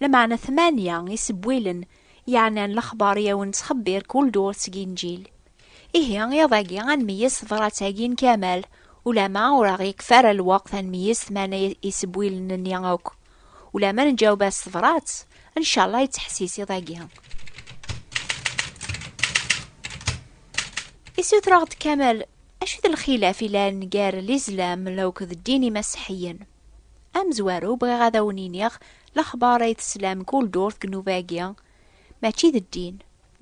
Lameɛna tmanya isebwilen yeɛnan lexbar i awen-ttxebbir kul durt seg Inǧil. Ihi, iḍ-agi ad nmeyyez tebrat-agi n Kamal, ulama ur aɣ-yekfi ara lweqt ad nmeyyez tmana isebwilen-nni akk. Ulama neǧaweb-as tebrat, ncallah yettḥessis iḍ-agi. Isuter-aɣ-d Kamal, acu d lxilaf ilan gar Lizlam akked ddin imaseḥiyen? Amezwaru, bɣiɣ ad awen-iniɣ lexbar ay teslam kul durt deg nnuba-agi, mačči d ddin.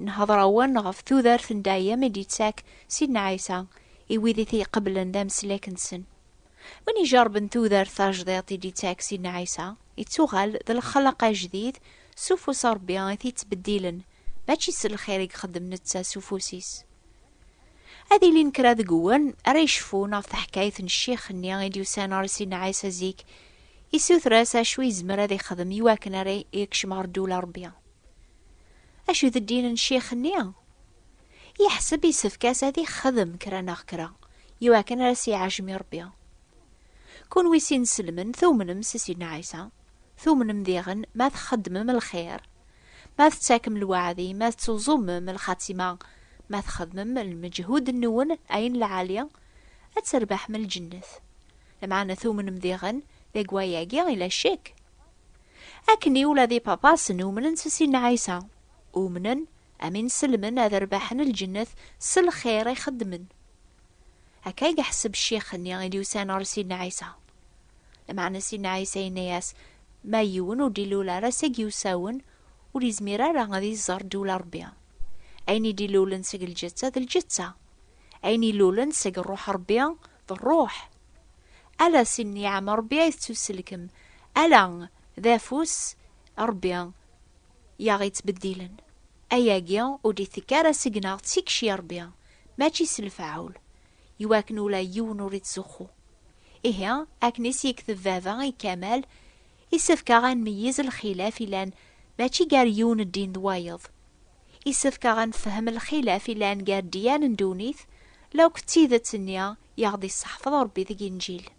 Nhedder-awen ɣef tudert n dayem i d-yettak Sidna Ɛisa i wid i t-iqeblen d ameslek-nsen. Win ijerrben tudert tajdiṭ i d-yettak Sidna Ɛisa, yettuɣal d lexleq ajdid s ufus n Rebbi i t-yettbeddilen, mačči s lxir i ixeddem netta s ufus-is. Ad ilin kra deg wul ara yecfun ɣef teḥkayt n ccix-nni i d-yusan ɣer Sidna Ɛisa zik, yessuter-as acu yezmer ad ixdem i wakken ara yekcem ɣer ddula n Rebbi. Acu d ddin n ccix-nni? Yeḥseb yessefk-as ad ixdem kra neɣ kra i wakken ara s-iɛejjem i Rebbi. Kunwi s ineslemen tumnem s Sidna Ɛisa? Tumnem diɣen ma txeddmem lxir, ma tettakem lweɛdi, ma tettuẓumem lxatima, ma txedmem lmeǧhud-nwen ayen lɛali, ad terbeḥem lǧennet. Lameɛna tumnem diɣen deg wayagi yella ccek? Akken i ula d ipapasen umnen s Sidna Ɛisa, umnen am inselmen ad rbaḥen lǧennet s lxir i xeddmen. Akka i yeḥseb ccix-nni i d-yusan ɣer Sidna Ɛisa. Lameɛna Sidna Ɛisa yenna-yas, Ma yiwen ur d-ilul ara seg yiwsawen, ur yezmir ara ad iẓer ddewla n Ṛebbi. Ayen i d-ilulen seg lǧetta d lǧetta, ayen ilulen seg Ṛṛuḥ n Ṛebbi d ṛṛuḥ. Ala si nniɛam n Ṛebbi ay tettuselkem, ala d afus n Ṛebbi i aɣ-yettbeddilen. Ayagi ur d-itekk ara seg-neɣ, d tikci n Ṛebbi. mačči s lfaɛul, iwakken ula yiwen ur ittzuxxu. Ihi, akken i s-yekteb baba i Kamal, isefk-aɣ ad nmeyyiz lxilaf ilan mačči gar yiwen ddin d wayeḍ. Isefk-aɣ ad nefhem lxilaf ilan gar ddyan n ddunit, la akk d tidet-nni i aɣ-d-isseḥfeḍ Rebbi deg Inǧil.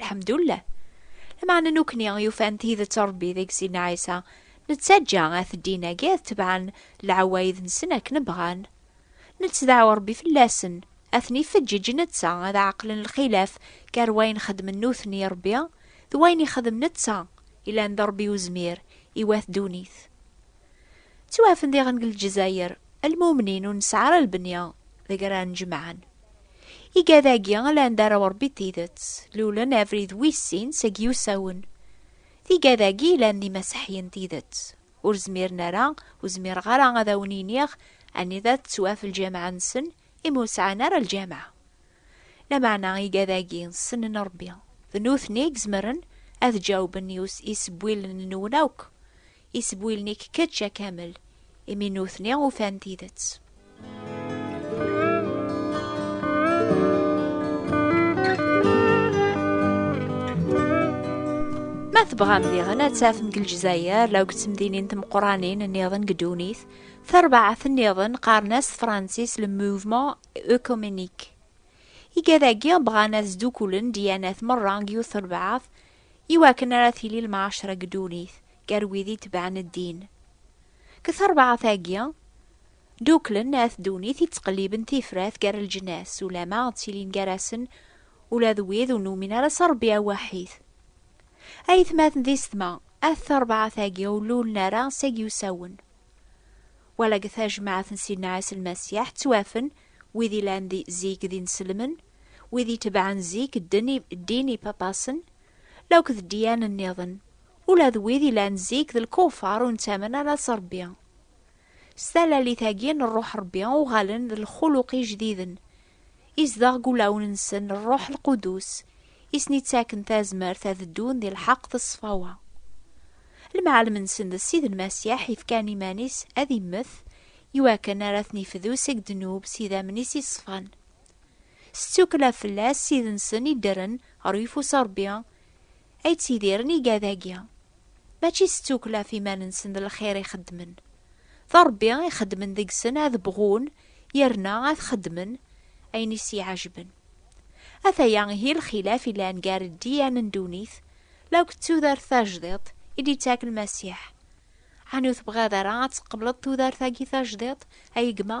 Lḥemdullah. Lameɛna nukni yufan tidet Ṛebbi deg Sidna Ɛisa, nettaǧǧa at ddin-agi ad tebɛen leɛwayed-nsen akken bɣan. Nettdaɛu Ṛebbi fell-asen, ad ten-ifeǧǧeǧ netta ad ɛeqlen lxilaf gar wayen xedmen nutni Ṛebbi d wayen ixdem netta, yellan d Ṛebbi uzmir i wat ddunit. Ttwaɛfen diɣen deg Lezzayer lmumnin ur nesɛi ara lbenya deg ara nnejmaɛen. Igad-agi ala anda ara urebbi d tidet, lulen abrid wis sin seg yusawen. D igad-agi ilan d imaseḥyen d tidet. Ur zmiren ara, ur zmireɣ ara ad awen-iniɣ anida tettwaf lǧameɛ-nsen imi ur sɛan ara lǧameɛ. Lameɛna igad-agi ssnen Rebbi. D nutni i izemren ad ǧawben i isebwilen-nwen akk. Isbwilen-ik kečč a Kamel, imi nutni ufan tidet. Ma tebɣam diɣen ad tafem deg Lezzayer law deg temdinin temquranin nniḍen deg ddunit, tarbaɛt nniḍen qqaren-as tefransist le mouvement œcuménique. Igad-agi bɣan ad sdukkulen dyanat merra deg yiwet terbaɛt, i wakken ara tili lmɛacra deg ddunit gar wid itebɛen ddin. Deg terbaɛt-agi, dduklen at ddunit ittqelliben tifrat gar leǧnas, ulamma ttilin gar-asen ula d wid ur numin ara s Rebbi awwaḥid. Ayetmaten di ssetma, at terbaɛt-agi ur lulen ara s agiwsawen. Wala deg tajmaɛt n Sidna Ɛisa Lmasiḥ ttwafen wid yellan di zik d ineslemen, wid itebɛen zik dden i ddin ipapasen, lakk d ddiyan nniḍen, ula d wid yellan zik d lkufar ur nettamen ara s Rebbi. S talalit-agi n Rruḥ Rebbi uɣalen d lxuluq ijdiden, izdeɣ deg ulawen-nsen Rruḥ Lqudus, i sen-ittaken tazmert ad ddun di lḥeqq d ṣṣfawa. Lemɛalem-nsen d Ssid Lmasiḥ yefkan iman-is ad immet i wakken ara ten-ifdu seg ddnub s idammen-is iṣfan. S ttukkla fell-as, Ssid-nsen iddren ɣer uyeffus n Rebbi, ay ttidiren igad-agi. Mačči s tukkla ɣef iman-nsen d lxir i xeddmen. D Ṛebbi i xeddmen deg-sen ad bɣun yerna ad xeddmen ayen i s-iɛejben. Ataya ihi lxilaf yellan gar ddiyan n ddunit la akked tudert tajdiṭ i d-ittak Lmasiḥ. Ɛni ur tebɣiḍ ara ad tqebleḍ tudert-agi tajdiṭ, a gma?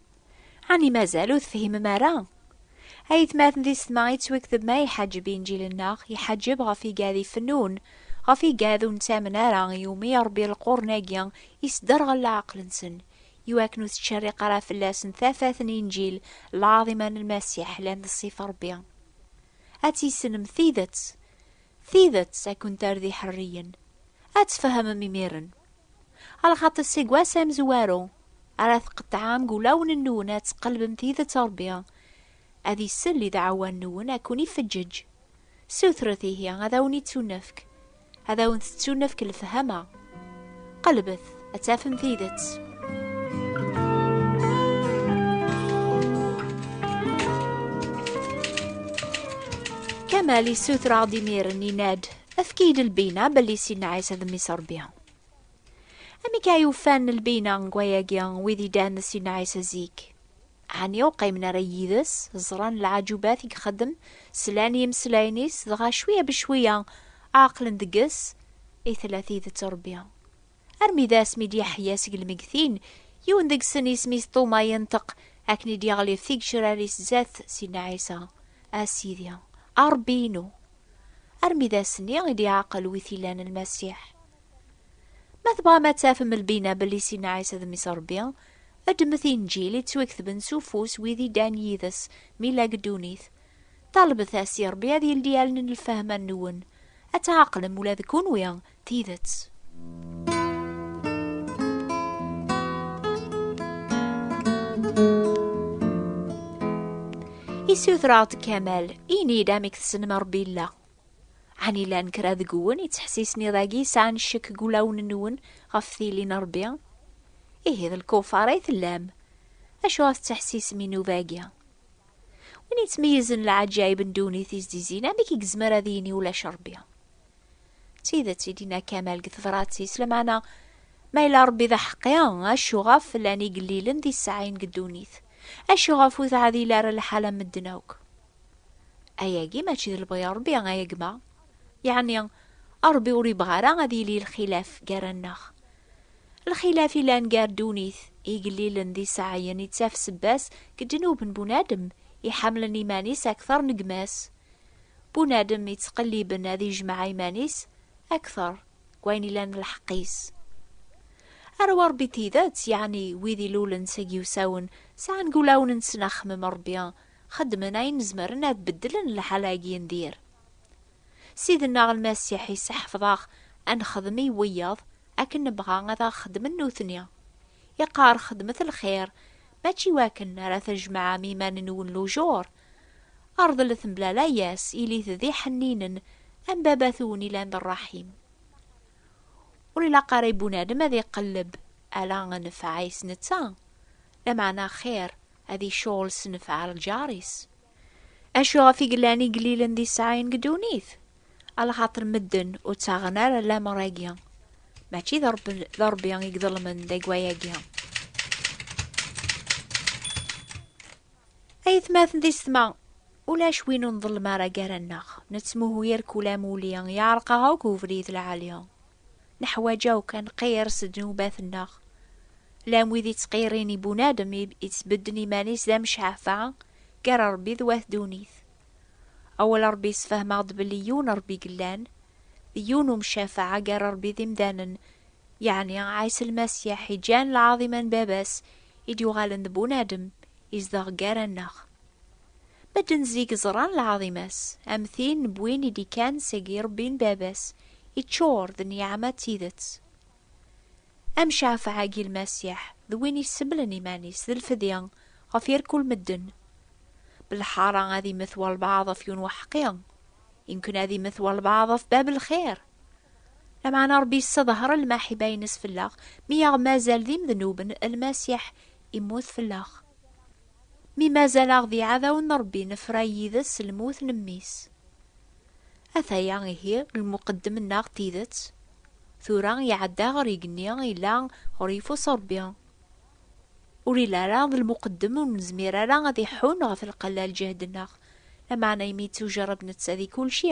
Ɛni mazal ur tefhimem ara? Ayetmaten di setma yettwekteb ma iḥaǧeb inǧilen-nneɣ, iḥaǧeb ɣef igad ifennun, ɣef igad ur nettamen ara iwumi Ṛebbi lqurn-agi isderɣel leɛqel-nsen, iwakken ur tettcerriq ara fell-asen tafat n inǧil lɛaḍima n Lmasiḥ lan d ṣṣif Ṛebbi. Ad tissnem tidet, tidet ad kent-terr d iḥerriyen. Ad tfehmem imiren. Ala xaṭi aseggas amezwaru ara tqeṭɛem deg ulawen-nwen ad tqelbem tidet Ṛebbi ad isell i dɛawa-nwen ad ken-ifeǧǧeǧ. Sutret ihi ad awen-ittunefk, ad awen-tettunefk lefhama. Qelbet ad tafem tidet. Kamal yessuter-aɣ-d imir-n, yenna-d, Efk-iyi-d lbina belli Sidna Ɛisa d mmi-s Rebbi. Amek ay ufan lbina n wayagi wid yeddan d Sidna Ɛisa zik? Ɛni ur qqimen ara yid-s, ẓran lɛajubat i ixeddem, slan i yimeslayen-is, dɣa cwiya becwiya ɛeqlen deg-s i tella tidet Rebbi? Armi d asmi d-yeḥya seg lmegtin, yiwen deg-sen isem-is Tuma yenṭeq akken i d-yeɣlif tigecrar-is zdat Sidna Ɛisa, A Sidi, a Rebbi-inu! Armi d ass-nni i d-iɛaqel wi t-ilan Lmasiḥ. Ma tebɣam ad tafem lbina belli Sidna Ɛisa d Mmi-s Rebbi, ddmet Inǧil i ttwaketben s ufus wid i ddan yid-s mi lag ddunit. Ṭalbet-as i Rebbi ad yeldi allen n lfehma-nwen, ad tɛaqlem ula d kunwi Tidet. Isutraɣ-d Kamal, ini-d amek tessnem Rebbi yella. Ɛni llan kra deg-wen yettḥessisen iḍ-agi sɛan ccek deg wulawen-nwen ɣef tili n Rebbi? Ihi d lkufar ay tellam. Acuɣer tettḥessisem i nnuba-agi? Win yettmeyyizen leɛǧayeb n ddunit i s-d-izzin, amek i yezmer ad yini ulac Rebbi? D tidet i d-yenna Kamal deg tebṛat-is, lameɛna ma yella Ṛebbi d aḥeqqi, acu ɣef llan igellilen d iseɛɛiyen deg ddunit? Acu ɣef ur teɛdil ara lḥal am medden akk? Ayagi mačči d lebɣi n Ṛebbi, ay gma? Yeɛni Ṛebbi ur yebɣi ara ad yili lxilaf gar-aneɣ? Lxilaf yellan gar ddunit, igellilen d iseɛɛiyen yettaf sebba-s deg ddnub n bunadem iḥemmlen iman-is akteṛ n gma-s. bunadem yettqelliben ad yejmeɛ iman-is akteṛ deg wayen ilan d lḥeqq-is. Arraw n Ṛebbi n tidet, yeɛni wid ilulen s agiwsawen, sɛan deg wulawen-nsen axemmem n Ṛebbi, xeddmen ayen zemren ad beddlen lḥala-agi n dir. Ssid-nneɣ Lmasiḥ yesseḥfeḍ-aɣ ad nexdem i wiyaḍ akken nebɣa ad aɣ-xedmen nutni. Yeqqar, Xedmet lxir, mačči iwakken ara tejmeɛem iman-nwen lujur, Rḍlet mebla layas, ilit d iḥenninen am baba-twen i lan rraḥim. Ur ilaq ara i bunadem ad iqelleb ala nnfeɛ-is netta, lameɛna axir ad icɣel s nnfeɛ lǧar-is. Acu ɣef i yellan igellilen d iseɛɛiyen deg ddunit? Alxaṭer medden ur ttaɣen ara lamer-agi. Mačči d Ṛebbi, d Ṛebbi i iḍelmen deg wayagi. Ayetmaten di setma, ulac win ur nḍellem ara gar-aneɣ. Nettmuhu irkul amuli, yeɛreq-aɣ akk ubrid lɛali. Neḥwaǧ akk ad nqirr s ddnubat-nneɣ. Llan wid yettqirrin i bunadem i yettbedden iman-is d amecɛaffa gar Ṛebbi d wat ddunit. Awal Ṛebbi yessefhem-aɣ-d belli yiwen Ṛebbi i yellan, d yiwen umcafeɛ gar Ṛebbi d imdanen, Yeɛni Ɛisa Lmasiḥ iǧǧan lɛaḍima n Baba-s i d-yuɣalen d bunadem, izdeɣ gar-aneɣ. Medden zik ẓran lɛaḍima-s, am tin n win i d-ikkan seg yirebbi n Baba-s, iččur d nniɛama d tidet. Amcafeɛ-agi Lmasiḥ d win iseblen iman-is d lfedya ɣef irkul medden. Belḥara ad immet walbeɛḍ ɣef yiwen weḥqi, imken ad immet walbeɛḍ ɣef bab lxir. Lameɛna Ṛebbi yesseḍher lmaḥiba-ines fell-aɣ, mi yaɣ-mazal d imednuben, Lmasiḥ immut fell-aɣ. Mi mazal-aɣ d iɛdawen n Ṛebbi, nefra yid-s s lmut n Mmi-s. Ataya ihi lmuqeddem-nneɣ n tidet, tura iɛedda ɣer igenni ila ɣer yeffus Ṛebbi. Ur ili ara d lmuqeddem ur nezmir ara ad iḥun ɣef lqella lǧehd-nneɣ, lameɛna imi yettujerreb netta di kulci,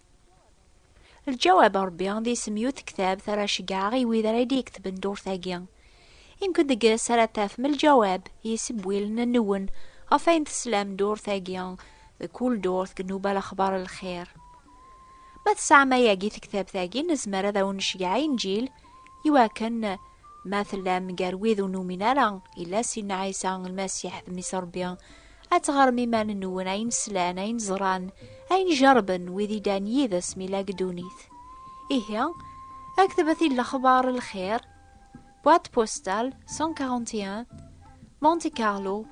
Lǧawab a Ṛebbi, d isem i utektab ara ceggɛeɣ i wid ara d-yeketben ddurt-agi. I nekk deg-s ara tafem lǧawab yessewwilen nwen ɣef wayen teslam ddurt-agi, deg kul ddurt deg nnuba lexbar n lxir. Ma tesɛam ayagi tektabt-agi, nezmer ad awen-necgeɛ Inǧil, i wakken ma tellam gar wid ur numin ara illa Sidna Ɛisa Lmasiḥ d Mmi-s Ṛebbi, ad teɣrem iman-nwen ayen slan, ayen ẓran, ayen jerrben wid i ddan yid-s mi llan deg ddunit. Ihi, aktbet i Lexbar n Lxir, Boîte postale 141, Monte Carlo,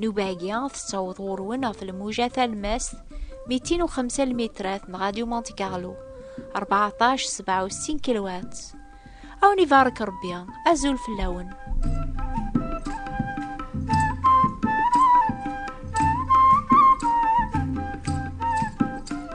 Nubagi, tettaweḍ ɣur-wen ɣef lmuja talmast 205 lmitrat n Radio Monte Carlo, 1467 kilowat. Awen ibarek Rebbi, azul fell-awen.